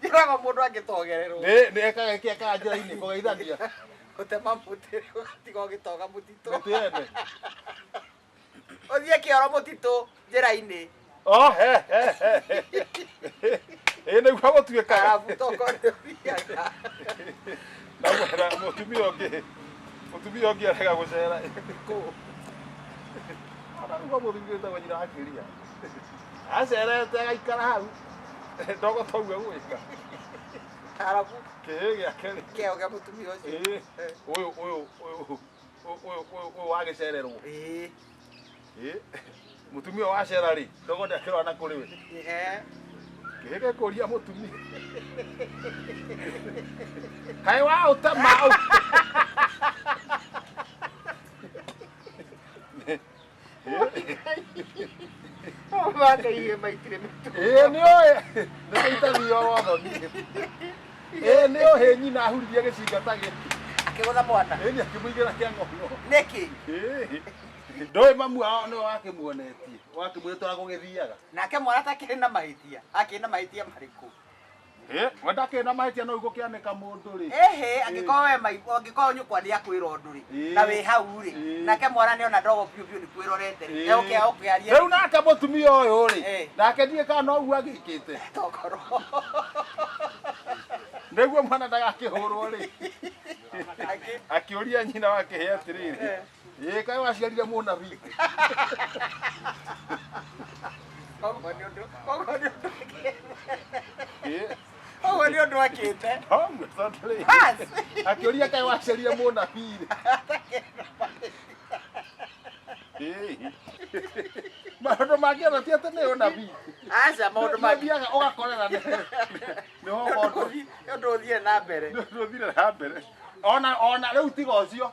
njĩraga mũndũ angĩtogererwo Nĩ- nĩ ekaga ĩkĩ ekaga njĩra-inĩ kũgeithania gũtema mũtĩ ũgatiga ũgĩtoga mũtitũ mĩtĩ yene ũthiĩ kĩoro mũtitũ njĩra-inĩ Oh, he, he, he, he. ĩĩ nĩguo gũtuĩkaga arabu toko nĩũthiaga na mwena mũtumia ũngĩ mũtumia ũngĩ arega gũcera kũ araruga mũthuri wĩtagwo nyina akĩria acerete agaikara hau ndogo twaua gwika arabu kĩĩ gĩake rĩ keo gĩa mũtumia ũcio Ĩĩ. Eh, ũyũ ũyũ ũyũ ũyũ ũyũ- ũyũ ũyũ wagĩcererwo ĩĩ, Ĩĩ. mũtumia wacera rĩ ndogo ndakĩrora na kũrĩ we eh, kĩĩ gĩkũria mũtumia kaĩ wa ũtema Makaire maitire mĩtu. Ĩĩ nĩ ũĩ. Nĩ tũitagio wotho niĩ. Ĩĩ nĩ ũhĩ nyina ahuririe gĩcinga ta gĩkĩ. Akĩgũtha mwana. Ĩĩ nĩ akĩmũigĩra kĩa ng'ono. Nĩkĩ? Ĩĩ. Ndoĩ mamu wao nĩwe wakĩmuonetie. Wakĩmwĩra ũrĩa gũgĩthiaga. Nake mwana atakĩrĩ na mahĩtia. Akĩrĩ na mahĩtia marĩkũ? Eh, we ndakĩrĩ na mahĩtia no igũkĩanĩka mũndũ rĩ Ehe, angĩkorwo we maigua angĩkorwo nyũkwa nĩ akwĩra ũndũ rĩ Ĩĩ. na wĩ hau rĩ Ĩĩ. nake mwana nĩ ona ndogo biũ biũ nĩ kwĩrorete rĩ Ĩĩ. eũkĩa ũkĩaria rĩu nake mũtumia ũyũ rĩ Eh. nake ndiĩ kana no ũguo agĩkĩte tokoro nĩguo mwana ndagakĩhũrwo rĩ akĩũria nyina wake he atĩrĩrĩ ä kaä waciarire må nabii Koguo nĩ ũndũ- koguo nĩ ũndũ akĩte. Koguo nĩ ũndũ akĩte. akä å ria kaä waciarire må nabii maå ndå mangä ona ti atä nä å nabii Aca maũndũ mangĩ. mathiaga å gakorera nä Nĩ ho ũndũ ũthi- nĩ ũndũ ũthiĩ na mbere. ndå thire na mbere ona ona rä u tiga å cio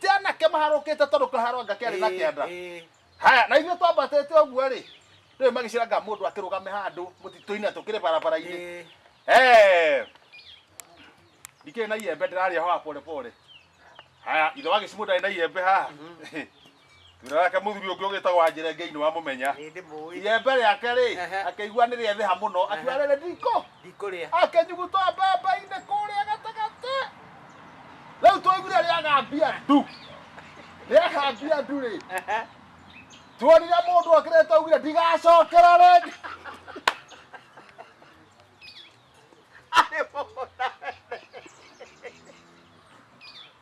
ti anake maharũkĩte tondũ kĩharo anga kĩarĩ na kĩanda Eh, haya na ithuĩ twambatĩte ũguo rĩ rĩu magĩciranga mũndũ akĩrũgame handũ mũtitũ-inĩ na tũkĩrĩ barabara-inĩ eh, Eh. ndikĩrĩ na iembe ndĩrarĩa hoa pole pole haya ithe wagĩcimũ ndarĩ na iembe haha wĩra wake mũthuri ũngĩ ũgĩtagwo anjĩre ngei nĩ wamũmenya Nĩ ndĩmũĩ. iembe rĩake rĩ Ehe. akĩigua nĩ rĩetheha mũno akiuga rĩrĩ ndikũ Ndikũrĩa. akĩnyuguta mbembe-inĩ kũrĩa gatagatĩ rĩu twaiguire rĩagambia ndu rĩagambia ndu rĩ Ehe. tuonire mũndũ okĩrĩte augire ndigacokera rĩngĩ Arĩ mũgũnda.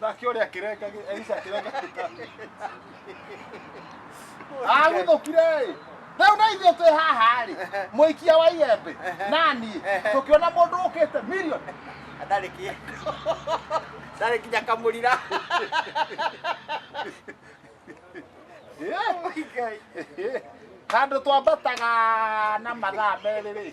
nake ũrĩa akĩrenga Elisha akĩrenga kĩtani agũthũkire ĩ rĩu na ithuĩ twĩ haha rĩ mũikia wa iembe na niĩ tũkĩona mũndũ ũkĩte milioni ndarĩ kä ndarä kinya kamå rira handå twambataga na mathaa merä rä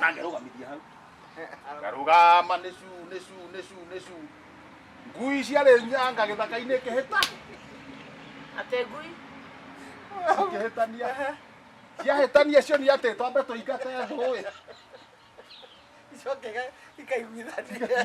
nangerũgamithia hau ngarũgama nĩ cu nĩ cu nĩ cu nĩ cu ngui ciarĩ nyanga gĩthaka-inĩ kĩhĩta atengui kĩhĩtania ciahĩtania cio nĩ atĩ twambe tũingate thũĩ icoke ikaiguithania